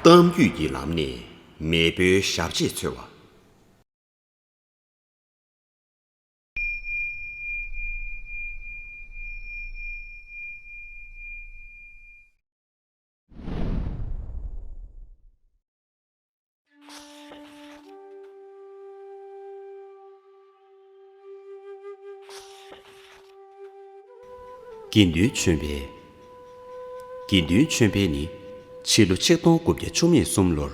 གཏམ་རྒྱུད་ཀྱི་ལམ་ནས་མེས་པོའི་ཞབས་རྗེས་འཚོལ་བ། དགེ་འདུན་ཆོས་འཕེལ། དགེ་འདུན་ཆོས་འཕེལ་ནི་ཕྱི་ལོ་ཆིག་སྟོང་དགུ་བརྒྱ་བཅུ་གཉིས་གསུམ་ལོར་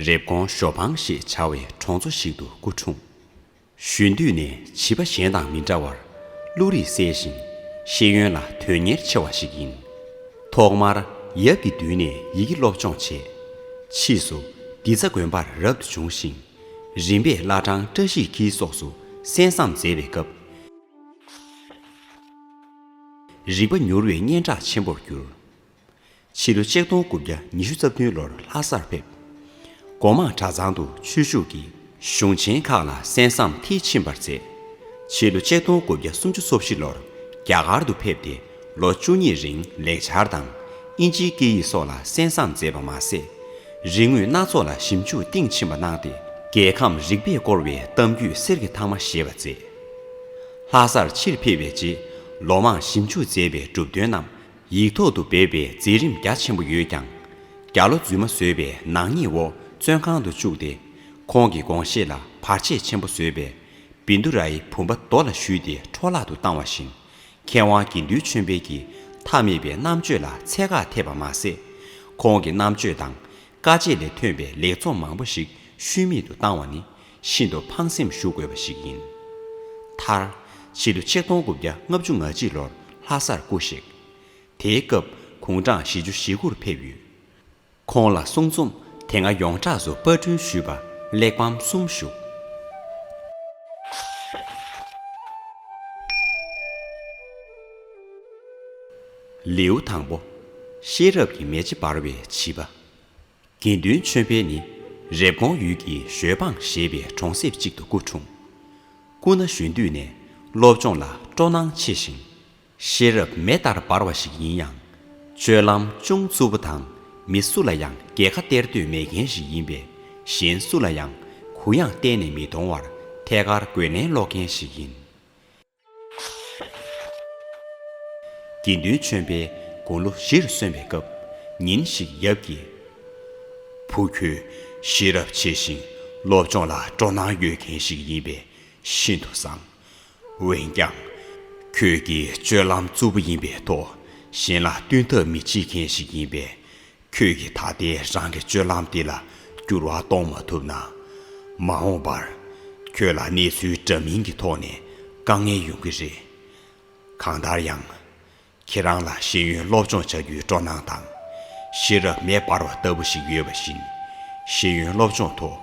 རེབ་གོང་ཞོ་ཕང་ཞེས་བྱ་བའི་གྲོང་ཚོ་ཞིག་ཏུ་སྐུ་འཁྲུངས། གཞོན་དུས་ནས་བྱིས་པ་གཞན་དང་མི་འདྲ་བར་བློ་རིག་གསལ་ཞིང། ཤེས་ཡོན་ལ་དོན་གཉེར་ཆེ་བ་ཞིག་ཡིན། ཐོག་མར་ཡབ་ཀྱི་མདུན་ནས་ཡི་གེ་སློབ་སྦྱོང་བྱས། ཕྱིས་སུ་སྡི་ཚ་དགོན་པར་རབ་ཏུ་བྱུང་ཞིང། རིམ་པས་བླ་བྲང་བཀྲ་ཤིས་འཁྱིལ་སོགས་སུ་གསན་བསམ་མཛད་པའི་སྐབས། རིག་པ་མྱུར་བའི་སྙན་གྲགས་ཆེན་པོར་གྱུར། ཕྱི་ལོ་ཆིག་སྟོང་དགུ་བརྒྱ་ཉི་ཤུ་རྩ་བདུན་ལོར་ལྷ་སར་ཕེབས། སྒོ་མང་གྲྭ་ཚང་དུ་ཆོས་ཞུགས་ཀྱིས་གཞུང་ཆེན་ཁག་ལ་གསན་བསམ་མཐིལ་ཕྱིན་པར་མཛད། ཕྱི་ལོ་ཆིག་སྟོང་དགུ་བརྒྱ་སུམ་ཅུ་སོ་བཞི་ལོར་རྒྱ་གར་དུ་ཕེབས་ཏེ་ལོ་བཅུ་གཉིས་རིང་ལེགས་སྦྱར་དང་དབྱིན་ཇིའི་སྐད་ཡིག་སོགས་ལ་གསན་བསམ་མཛད་པ་མ་ཟད། རིག་དངོས་སྣ་ཚོགས་ལ་ཞིབ་འཇུག་གཏིང་ཕྱིན་པ་གནང་སྟེ་རྒྱལ་ཁམས་རིག་པས་བསྐོར་བའི་གཏམ་རྒྱུད་གསེར་གྱི་ཐང་མ་ཞེས་པ་མཛད། ལྷ་སར་ཕྱིར་ཕེབས་པའི་རྗེས་ལོ་མང་ཞིབ་འཇུག་མཛད་པའི་གྲུབ་དོན་རྣམས་ཡིག་ཐོག་ཏུ་སྦས་པའི་མཛད་རིམ་རྒྱ་ཆེན་པོ་ཡོད་ཀྱང། རྒྱ་ལོ་རྫུན་མ་བཟོས་པའི་ནག་ཉེས་འོག་བཙོན་ཁང་དུ་བཅུག་སྟེ། ཁོང་གི་དགོངས་བཞེད་ལ་བར་ཆད་ཆེན་པོ་བཟོས་པས། བིནྡུ་རཱའི་བུམ་པ་རྡོ་ལ་བཞུས་ཏེ་འཕྲོ་བརླག་ཏུ་བཏང་བ་བཞིན། མཁས་དབང་དགེ་འདུན་ཆོས་འཕེལ་གྱི་མཐའ་མེད་པའི་རྣམ་དཔྱོད་ལ་ཚད་བཀག་ཐེབས་པ་མ་ཟད། ཁོང་གི་རྣམ་དཔྱོད་དང་དཀའ་སྤྱད་ལས་ཐོན་པའི་ལེགས་ཚོགས་མང་པོ་ཞིག་ཤུལ་མེད་དུ་བཏང་བ་ནི་ཤིན་ཏུ་ཕངས་སེམས་ཞུ་དགོས་པ་ཞིག་ཡིན། མཐར། ཕྱི་ལོ་ཆིག་སྟོང་དགུ་བརྒྱ་ལྔ་བཅུ་ང་གཅིག་ལོར་ལྷ་སར་སྐུ་གཤེགས། དེའི་སྐབས་གུང་གྲངས་བཞི་བཅུ་ཞེ་དགུར་ཕེབས་ཡོད། ཁོང་ལ་གསུང་རྩོམ་དེ་སྔ་ཡོངས་གྲགས་སུ་དཔར་སྐྲུན་ཞུས་པ་གླེགས་བམ་གསུམ་བཞུགས། ལེའུ་དང་པོ། ཤེས་རབ་ཀྱི་མེ་ལྕེ་འབར་བའི་བྱིས་པ། དགེ་འདུན་ཆོས་འཕེལ་ནི་རེབ་གོང་ཡུལ་གྱི་ཞོལ་འབངས་ཞེས་པའི་གྲོང་གསེབ་ཅིག་ཏུ་སྐུ་འཁྲུངས། སྐུ་ན་གཞོན་དུས་ནས་སློབ་སྦྱོང་ལ་སྤྲོ་སྣང་ཆེ་ཞིང། ཤེས་རབ་མེ་ལྟར་འབར་བ་ཞིག་ཡིན་ཡང། སྤྱོད་ལམ་ཅུང་རྩུབ་པོ་དང་མི་སུ་ལ་ཡང་རྒྱལ་ཁ་སྟེར་འདོད་མེད་མཁན་ཞིག་ཡིན་པས་གཞན་སུ་ལ་ཡང་གུ་ཡངས་གཏན་ནས་མི་གཏོང་བར་ཐད་ཀར་རྒོལ་ལན་སློག་མཁན་ཞིག་ཡིན། དགེ་འདུན་ཆོས་འཕེལ་དགུང་ལོ་བཞིར་སོན་པའི་སྐབས་ཉིན་ཞིག་ཡབ་ཀྱིས། བུ་ཁྱོད་ཤེས་རབ་ཆེ་ཞིང་སློབ་སྦྱོང་ལ་སྤྲོ་སྣང་ཡོད་མཁན་ཞིག་ཡིན་པས་ཤིན་ཏུ་བཟང། འོན་ཀྱང། ཁྱོད་ཀྱིས་སྤྱོད་ལམ་རྩུབ་པོ་ཡིན་པའི་ཐོག་གཞན་ལ་བསྟུན་ཐབས་མི་བྱེད་མཁན་ཞིག་ཡིན་པས་ཁྱོད་ཀྱིས་ད་ལྟའི་རང་གི་སྤྱོད་ལམ་འདི་ལ་འགྱུར་བ་གཏོང་མ་ཐུབ་ན། མ་འོངས་པར་ཁྱོད་ལ་གནས་ཚུལ་འདྲ་མིན་གྱི་ཐོག་ནས་དཀའ་ངལ་ཡོང་གི་རེད། གང་ལྟར་ཡང། ཁྱེད་རང་ལ་ཤེས་ཡོན་སློབ་སྦྱོང་བྱ་རྒྱུའི་སྤྲོ་སྣང་དང། ཤེས་རབ་མེ་འབར་བ་ལྟ་བུ་ཞིག་ཡོད་པ་བཞིན། ཤེས་ཡོན་སློབ་སྦྱོང་ཐོག་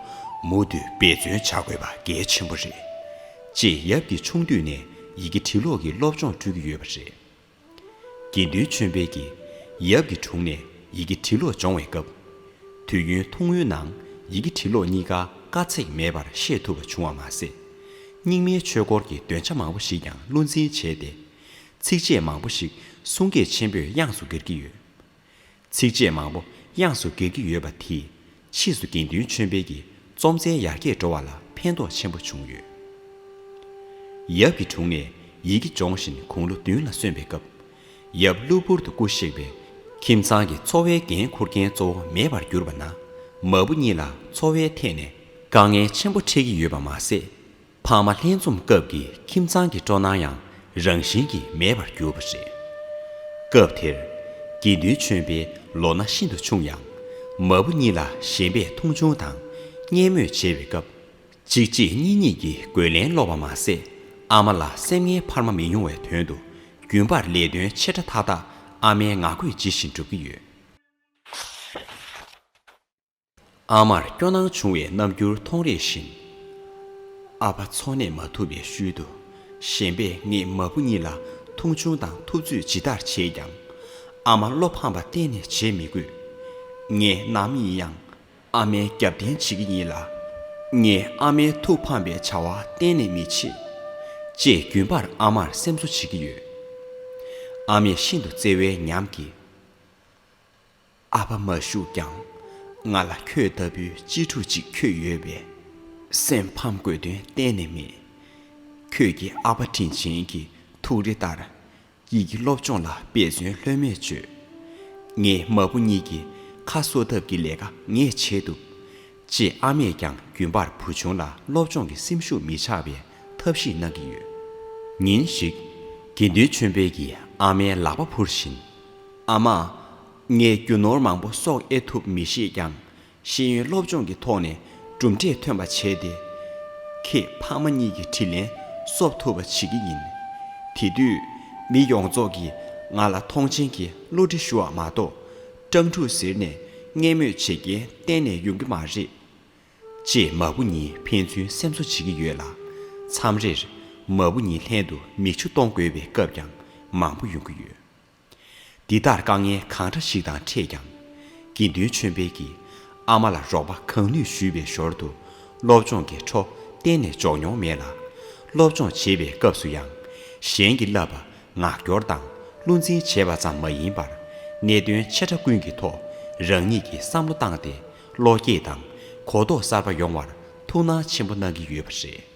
མུ་མཐུད་འབད་བརྩོན་བྱ་དགོས་པ་གལ་ཆེན་པོ་རེད། ཅེས་ཡབ་ཀྱིས་ཆུང་དུས་ནས་ཡི་གེ་བྲིས་ཀློག་གི་སློབ་སྦྱོང་སྤྲོད་ཀྱི་ཡོད་པ་རེད། དགེ་འདུན་ཆོས་འཕེལ་གྱིས་ཡབ་ཀྱི་དྲུང་ནས་ཡི་གེ་བྲིས་ཀློག་སྦྱོང་བའི་སྐབས། དུས་ཡུན་ཐུང་ངུའི་ནང་ཡི་གེ་བྲིས་ཀློག་གཉིས་ཀ་དཀའ་ཚེགས་མེད་པར་ཤེས་ཐུབ་པ་བྱུང་བ་མ་ཟད། རྙིང་མའི་ཆོས་སྐོར་གྱི་འདོན་ཆ་མང་པོ་ཞིག་ཀྱང་བློ་འཛིན་བྱས་ཏེ། ཚིགས་བཅད་མང་པོ་ཞིག་གསུང་སྐད་ཆེན་པོས་དབྱངས་སུ་གྱེར་གྱི་ཡོད། ཚིགས་བཅད་མང་པོ་དབྱངས་སུ་གྱེར་གྱི་ཡོད་པ་དེས་ཕྱིས་སུ་དགེ་འདུན་ཆོས་འཕེལ་གྱི་རྩོམ་རྩལ་ཡར་རྒྱས་འགྲོ་བ་ལ་ཕན་ཐོགས་ཆེན་པོ་བྱུང་ཡོད། ཡབ་ཀྱི་དྲུང་ནས་ཡི་གེ་སྦྱོང་བཞིན་གུང་ལོ་བདུན་ལ་སོན་པའི་སྐབས། ཡབ་གློ་བུར་དུ་སྐུ་གཤེགས་པས། ཁྱིམ་ཚང་གི་འཚོ་བའི་འགན་འཁུར་མཁན་གཙོ་བོ་མེད་པར་གྱུར་པ་ན། མ་བུ་གཉིས་ལ་འཚོ་བའི་ཐད་ནས་དཀའ་ངལ་ཆེན་པོ་འཕྲད་ཀྱི་ཡོད་པ་མ་ཟད། ཕ་མ་ལྷན་འཛོམས་སྐབས་ཀྱི་ཁྱིམ་ཚང་གི་སྤྲོ་སྣང་ཡང་རང་བཞིན་གྱིས་མེད་པར་གྱུར་པ་རེད། སྐབས་དེར། དགེ་འདུན་ཆོས་འཕེལ་ལོ་ན་ཤིན་ཏུ་ཆུང་ཡང། མ་བུ་གཉིས་ལ་གཞན་པས་མཐོང་ཆུང་དང་བརྙས་དམོད་བྱེད་པའི་སྐབས། གཅིག་རྗེས་གཉིས་གཉིས་ཀྱིས་རྒོལ་ལན་སློག་པ་མ་ཟད་ཨ་མ་ལ་སེམས་ངལ་འཕར་མ་མི་ཡོང་བའི་དོན་དུ་རྒྱུན་པར་ལས་དོན་ཆེ་ཕྲ་མཐའ་དག་ཨ་མའི་ངག་བཀོད་ཇི་བཞིན་སྒྲུབ་ཀྱི་ཡོད། ཨ་མར་སྐྱོ་སྣང་བྱུང་བའི་རྣམ་འགྱུར་མཐོང་རེ་བཞིན། ཨ་ཕ་འཚོ་གནས་མ་ཐུབ་པའི་ཤུལ་དུ་ཞེན་པས་ངས་མ་བུ་གཉིས་ལ་མཐོང་ཆུང་དང་ཐུབ་ཚོད་ཇི་ལྟར་བྱས་ཀྱང། ཨ་མ་བློ་ཕམ་པ་གཏན་ནས་བྱེད་མི་དགོས། ངས་ནམ་ཡིན་ཡང་ཨ་མའི་རྒྱབ་རྟེན་བྱེད་ཀྱི་ཡིན་ལ། ངས་ཨ་མའི་ཐུགས་ཕམ་པའི་བྱ་བ་གཏན་ནས་མི་བྱེད། ཅེས་རྒྱུན་པར་ཨ་མར་སེམས་གསོ་བྱེད་ཀྱི་ཡོད། ཨ་མས་ཤིན་ཏུ་བརྩེ་བའི་ཉམས་ཀྱིས། ཨ་ཕ་མ་བཞུགས་ཀྱང། ང་ལ་ཁྱོད་ལྟ་བུའི་གཅེས་ཕྲུག་ཅིག་ཁྱོད་ཡོད་པས། སེམས་ཕམ་དགོས་དོན་གཏན་ནས་མེད། ཁྱོད་ཀྱི་ཨ་ཕ་དྲིན་ཆེན་གྱི་ཐུགས་རེ་ལྟར། ཡིད་ཀྱི་སློབ་སྦྱོང་ལ་དཔེ་མཚོན་ལྷོད་མེད་བཅོལ། ངས་མ་བུ་གཉིས་ཀྱི་ཁ་གསོ་ཐབས་ཀྱི་ལས་ཀ་ངས་བྱེད་ཐུབ། ཅེས་ཨ་མས་ཀྱང་རྒྱུན་པར་བུ་ཆུང་ལ་སློབ་སྦྱོང་གི་སེམས་ཤུགས་མི་ཆག་པའི་ཐབས་ཤེས་གནང་གི་ཡོད། ཉིན་ཞིག། དགེ་འདུན་ཆོས་འཕེལ་གྱིས་ཨ་མའི་ལག་པ་འཕུར་བཞིན། ཨ་མ། ངས་རྒྱུ་ནོར་མང་པོ་གསོག་ཨེ་ཐུབ་མི་ཤེས་ཀྱང། ཤེས་ཡོན་སློབ་སྦྱོང་གི་ཐོག་ནས་གྲུབ་འབྲས་ཐོན་པ་བྱས་ཏེ། ཁྱེད་ཕ་མ་གཉིས་ཀྱི་དྲིན་ལན་གསོབ་ཐུབ་པ་བྱེད་ཀྱི་ཡིན། དེ་དུས་མི་ཡོངས་རྫོགས་ཀྱིས་ང་ལ་མཐོང་ཆེན་གྱི་བསླུ་བྲིད་ཞུ་བ་མ་གཏོགས། སྤྲང་ཕྲུག་ཟེར་ནས་བརྙས་སྨོད་བྱེད་མཁན་གཏན་ནས་ཡོང་གི་མ་རེད། ཅེས་མ་བུ་གཉིས་ཕན་ཚུན་སེམས་གསོ་བྱེད་ཀྱི་ཡོད་ལ། མཚམས་རེར་མ་བུ་གཉིས་ལྷན་དུ་མིག་ཆུ་གཏོང་དགོས་པའི་སྐབས་ཀྱང་མང་པོ་ཡོང་གི་ཡོད། འདི་ལྟར་དཀའ་ངལ་གང་འདྲ་ཞིག་དང་འཕྲད་ཀྱང། དགེ་འདུན་ཆོས་འཕེལ་གྱིས་ཨ་མ་ལ་རོགས་པ་གང་ནུས་ཞུས་པའི་ཞོར་དུ་སློབ་སྦྱོང་གི་འཕྲོ་གཏན་ནས་འཇོག་མྱོང་མེད་ལ། སློབ་སྦྱོང་བྱེད་པའི་སྐབས་སུ་ཡང། གཞན་གྱིས་བསླབ་པ་ངག་སྐྱོར་དང་བསླུ་འཛིན་བྱེད་པ་ཙམ་མ་ཡིན་པར། གནད་དོན་ཆེ་ཕྲ་ཀུན་གྱི་ཐོག་རང་ཉིད་ཀྱིས་བསམ་བློ་བཏང་སྟེ་བློ་སྐྱེད་དང་གོ་རྟོགས་གསར་པ་ཡོང་བར་ཐུགས་སྣང་ཆེན་པོ་གནང་གི་ཡོད་པ་རེད།